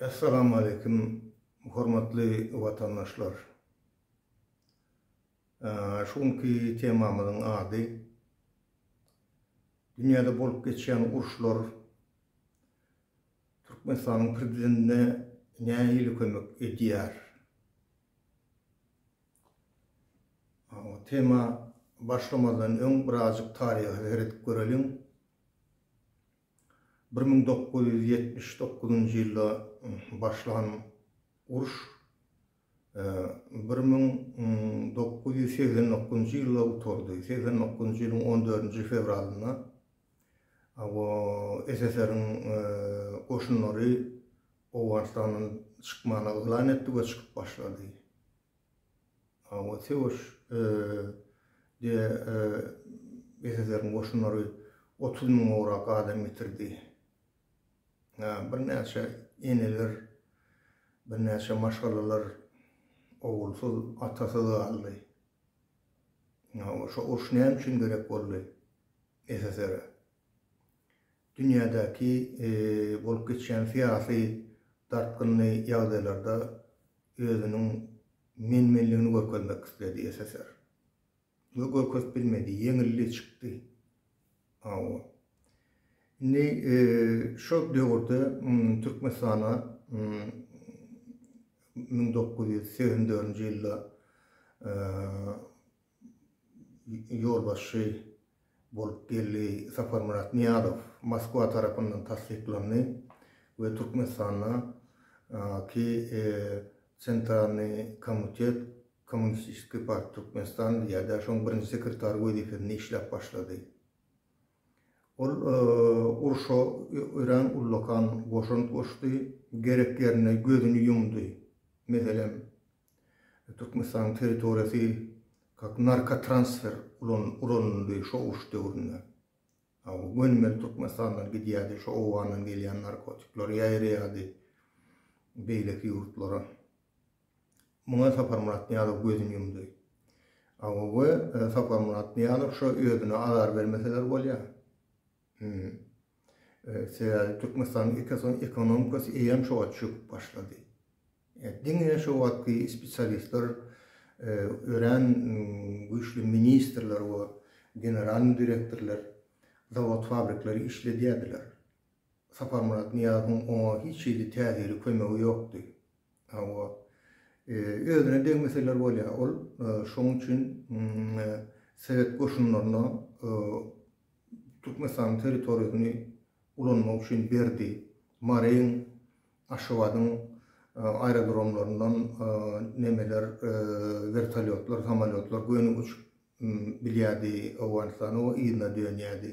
Essalamu aleýkum hormatly watandaşlar. Şu günki temamyzyň ady Dünýäde bolup geçýän uruşlar Türkmenistanyň prezidentine nähili kömek edýär? Tema başlamazdan öň birazjyk taryha seredip göreliň. Bir müň dokuz ýüz ýetmiş dokuzynjy ýylda başlan uruş bir müň dokuz ýüz segsen dokuzynjy ýylda gutardy. Segsen dokuzynjy ýylyň on dördünji fewralynda SSR-iň goşunlary Owganystandan çykmany yglan etdi we çykyp başlady. Hawa, söweş, diýe, SSR-iň goşunlary otuz müňograk adam ýitirdi. Birnäçe eneler, birnäçe maşgalalar ogulsyz, atasyz galdy. Hawa, şo uruş näme üçin gerek boldy SSR-e? Dünýädäki bolup geçýän syýasy dartgynly ýagdaýlarda özüniň men-menligini görkezmek isledi SSR. We görkezip bilmedi, ýeňildi, çykdy. Hawa. Indi şol döwürde Türkmenistana müň dokuz ýüz segsen dördünji ýylda ýolbaşçy bolup geldi. Saparmyrat Nyýazow Moskwa tarapyndan tassyklandy we Türkmenistanda ki Sentralnyý komutet Kommunistiskiý parti Türkmenistan diýýärdi, şoň birinji sekretary wezipesinde işläp başlady. Ol urşa örän ullakan goşant goşdy, gerek ýerinde gözüni ýumdy. Meselem, Türkmenistanyň territoriýasy kak narkotransfer ulan ulanyldy şo uruş döwründe. Aw gönümel Türkmenistandan gidýärdi şo owgandan gelýän narkotikler ýaýraýardy beýleki ýurtlara. Muňa Saparmyrat Nyýazow gözüni ýumdy. Aw we Saparmyrat Nyýazow şo özüne azar bermeseler bolýar. Sebäbi Türkmenistanyň ekosony ekonomikasy eýýäm şo wagt çöküp başlady. Diňe şo wagtky spesialistler örän güýçli ministrler we generalnyý direktorlar zawod-fabrikleri işledýärdiler. Saparmyrat Nyýazowyň oňa hiç hili täsiri, kömegi ýokdy. Hawa, özüne degmeseler bolýar. Ol şonuň üçin sowet goşunlaryna Türkmenistanyň territoriýasyny ulanmak üçin berdi. Maryň, Aşgabadyň aerodromlaryndan nemeler, wertolýotlar, samolýotlar göni uçup bilýärdi Owganystana we yzyna dönýärdi.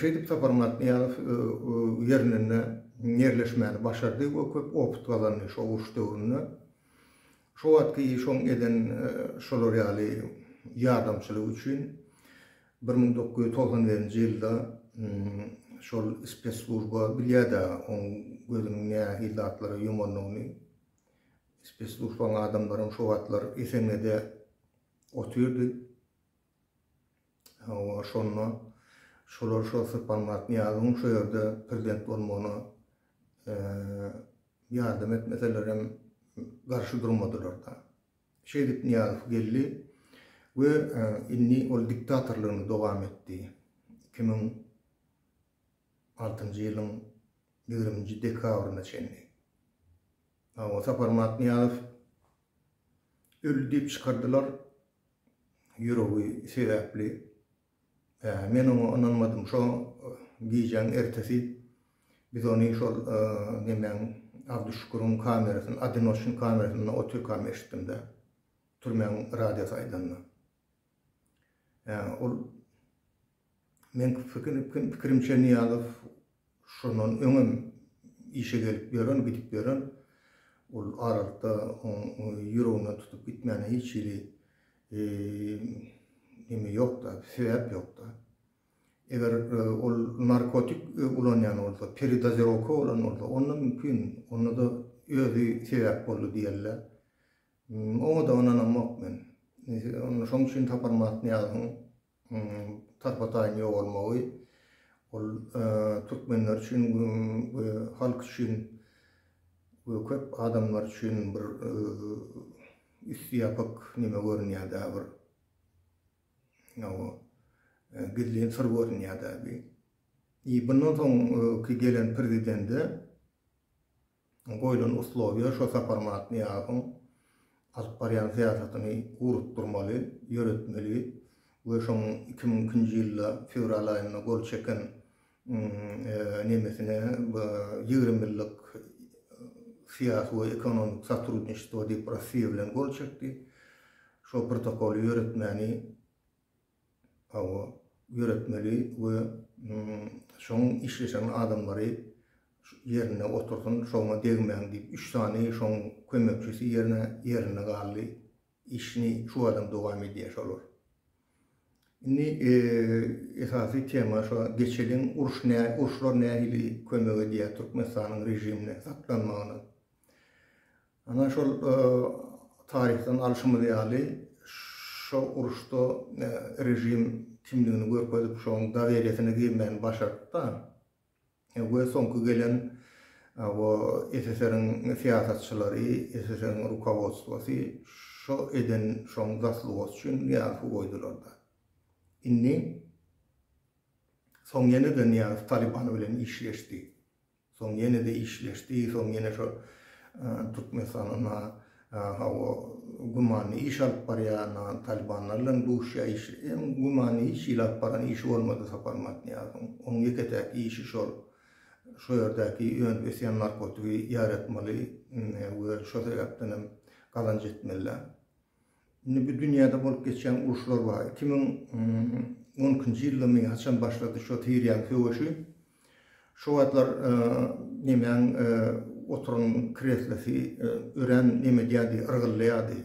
Şeýdip Sapar Myratnyýazow ýerinde ýerleşmäni başardy we köp opyt gazandy şo uruş döwründe. Şo wagtky iş oň eden şolar ýaly ýardamçylygy üçin bir müň dokuz ýüz togsan birinji ýylda şol spesslujba bilýär-de oň gözüniň nähili zatlara ýumandygyny. Spesslujbaň adamlaram şo wagtlar Esenede otyrdy. Hawa, şonda şolar şo sypanmak Nyýazyň şo ýerde prezident bolmagyna ýardam etmeselerem garşy durmadylar-da. Şeýdip Nyýazow geldi we indi ol diktatorlygyny dowam etdi. Iki müň altynjy ýylyň ýigriminji dekabryna çenli. Hawa, Saparmat Nyýazow öldi diýip çykardylar. ýüregi sebäpli, men oňa ynanmadym. Şo gijäň ertesi biz ony şol nemäň, Abduşüküriň kamerasyny, Odinoçnyň kamerasynda otrykam eşitdim-de, türmäň radiosy aýdanda. Ol Meniň pikirimçe Nyýazow şondan öňem işe gelip ýören, gidip ýören, ol aralykda oň ýüreginden tutup gitmäne hiç hili neme ýokda, sebäp ýokda. Eger ol narkotik ulanýan bolsa, peredozirowka bolan bolsa, onda mümkin, onda-da özi sebäp boldy diýerler. Oňa-da ynanamok men. Şoň üçin Sapar Mahatnyýazowyň tarpataýyn ýogalmagy, ol türkmenler üçin we halk üçin we köp adamlar üçin bir üsti ýapyk neme görünýär-dä bir. Ýa-da gizlin syr görünýär-dä bir. Bundan soňky gelen prezidende goýlan uslowýa şo Saparmyrat Nyýazowyň alyp barýan syýasatyny ugrukdyrmaly, ýöretmeli we şoň iki müň ikinji ýylda fewral aýynda gol çeken nemesine ýigrimi ýyllyk syýasy we ekonomik sotrudniçestwo diýip Rossiýa bilen gol çekdi, şo protokoly ýöretmäni Hawa, ýöretmeli we şoň işleşen adamlary ýerinde otursyn, şoňa degmäň diýip, üç sany şoň kömekçisi ýerine ýerinde galdy. Işini şu adam dowam edýär şolar. Indi esasy tema şo geçeliň, uruş nä, uruşlar nähili kömek edýär Türkmenistanyň režimine saklanmagyna. Ana şol taryhdan alşymyz ýaly, şo uruşda režim kimdigini görkezip, şoň dawelýasyny girmäni başartda we soňky gelen o SSR-iň syýasatçylary, SSR-iň rukowodstwosy şo eden şoň zaslugosy üçin Nyýazowy goýdularda. Indi soň ýene-de Nyýazow Talyban bilen işleşdi. Soň ýene-de işleşdi. Soň ýene şo Türkmenistanyň hawa gümanly iş alyp barýan Talybanlar bilen duşýar. Iş hem gümanly hiç hili alyp baran işi bolmady Sapar Matniýazowyň. Onuň ýeke-täk işi şol şo ýerdäki önüp ösýän narkotigi ýaratmaly we şo sebäpden hem gazanç etmeli. Indi bu dünýäde bolup geçýän uruşlar bar. Iki müň on ikinji ýyldamy haçan başlady şo Siriýaň söweşi. Şo wagtlar nemäň oturan kreslosy örän neme edýärdi, yrgyldaýardy.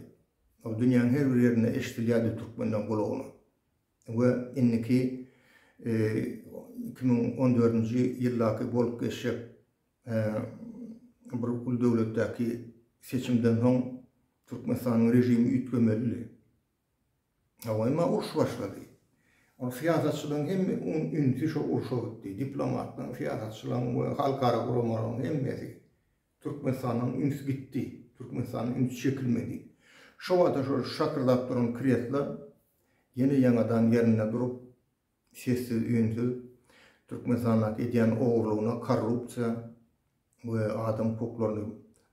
Ol dünýäň her bir ýerinde eşidilýärdi türkmenden gulagyna. We indiki iki müň on dördünji ýyldaky bolup geçjek Bir uly döwletdäki seçimden soň Türkmenistanyň režimi üýtgemelidi. Hawa, emma uruş başlady. Ol syýasatçylaryň hemme ünsi şo urşa gitdi. Diplomatlaryň, syýasatçylaryň we halkara guramalaryň hemmesi. Türkmenistandan üns gitdi. Türkmenistandan üns çekilmedi. Şo wagta şo şakyrdap duran kresla ýene ýaňadan ýerinde durup, sessiz-üýnsüz Türkmenistandaky edýän ogurlygyna korrupsiýa we adam hukuklaryny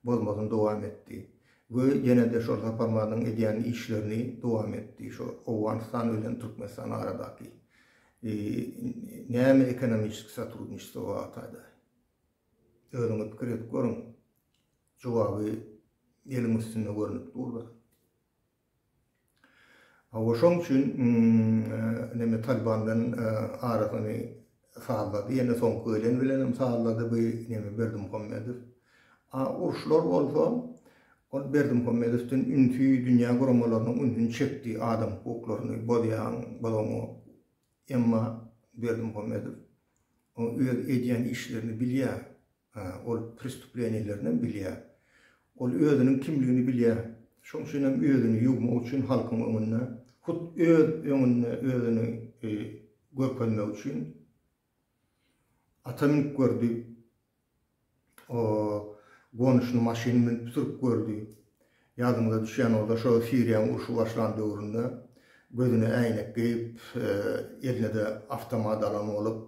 bozmasyny dowam etdi we ýene-de şol Saparmazyň edýän işlerini dowam etdi şu Owganystan bilen Türkmenistan aradaky näme ekonomiçeskiý sotrudniçestvo bartada özüňiz pikir edip görüň jogaby eliň üstünde görünip dur-da. Hawa şoň üçin neme Taliban bilen arasyny sazlady ýene soňky gelen bilenem sazlady bu neme Berdimuhamedow. A uruşlar bolsa ol Berdimuhamedowdan ünsi dünýä guramalarynyň ünsüni çekdi adam hukuklaryny bozýaň bozoňa emma Berdimuhamedow öz edýän işlerini bilýär. Hä, ol prestuplenileriňem bilýär. Ol özüniň kimligini bilýär. Şoň üçinem özüni ýuwmak üçin halkyň öňünde, hut öz öňünde özüni görkezmek üçin ata münüp gördi, o gonuşyny maşyny münüp sürüp gördi. Ýadyňyza düşýän bolsa, şo Siriýanyň urşy başlan döwründe gözüne äýnek geýip, eline-de awtomat alan bolup,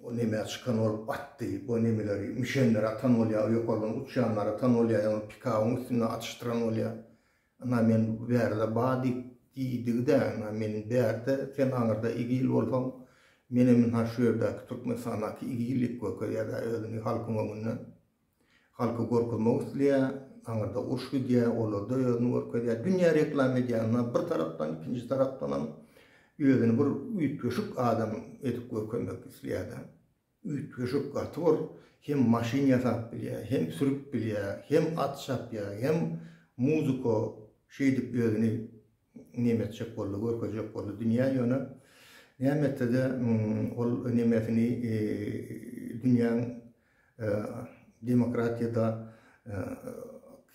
Bu neme çykan ol atdy bu nemeleri müşenleri atan bolýa ýokardan uçýanlary atan bolýa ýaňy pikabyň üstünde atyşdyran bolýa ynha men bu bärde ba diýip diýdigidä ynha men bärde sen aňyrda igil bolsaň menem ynha şu ýerdäki türkmenistandaky igillik görkezýädä özüni halkyň öňünde. Halky gorkuzmak isleýär, aňyrda uruş gidýär, olarda özüni görkezýär, dünýä reklama edýär, ynha bir tarapdan, ikinji tarapdanam özüni bir üýtgeşik adam edip görkezmek isleýär-de. Üýtgeşik, gaty bir hem maşyn ýasap bilýär, hem sürüp bilýär, hem at çapýar, hem muzika şeýdip özüni neme etjek boldy, görkezjek boldy dünýä, ýöne näme etse-de ol nemesini dünýäň demokratiýada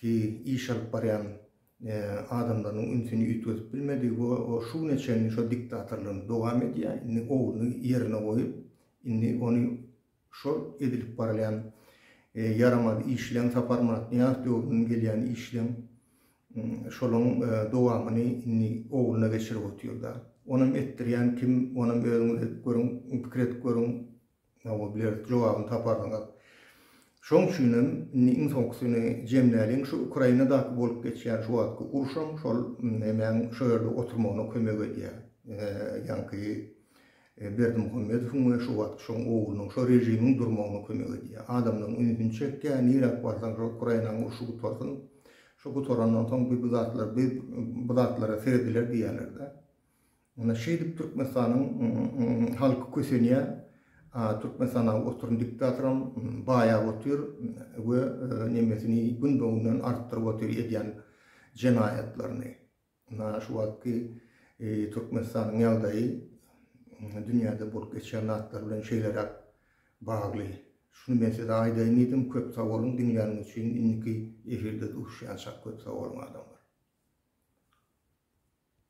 ki iş alyp barýan adamlarynyň ünsüni üýtgedip bilmedi we o şu güne çenli şo diktatorlygyny dowam edýär. Indi ogluny ýerine goýup, indi ony şol edilip barylýan ýaramaz işleň Saparmyrat Nyýazow döwründen gelýän işleň şolaň dowamyny indi ogluna geçirip otyrda. Onam etdirýän kim onam özüňiz edip görüň pikir edip görüň. Oňa bilerik jogabyny taparsyňyz. Şoň üçinem indi iň soňkusyny jemläliň, şu Ukrainadaky bolup geçýän şu wagtky uruşam şol nemäň şo ýerde oturmagyna kömek edýär. Ýaňky Berdimuhamedowyň we şu wagtky şoň oglunyň şo režimiň durmagyna kömek edýär. Adamlaryň ünsüni çekýär, niräk barsaň şo Ukrainaň urşy gutarsyn. Şo gutarandan soň bir bu zatlar, bir bu zatlara serediler diýýärler-de. Ine şeýdip Türkmenistanyň halky kösenýär. Türkmenistan oturyn diktatoram baýap otyr we nemesini günbe-günden artdyryp otyr edýän jenaýatlaryny. Ine şu wagtky Türkmenistanyň ýagdaýy dünýäde bolup geçýän zatlar bilen şeýleräk bagly. Şuny men size aýdaýyn diýdim. Köp sag boluň diňläniňiz üçin. Indiki efirde duşýançak köp sag boluň adamlar.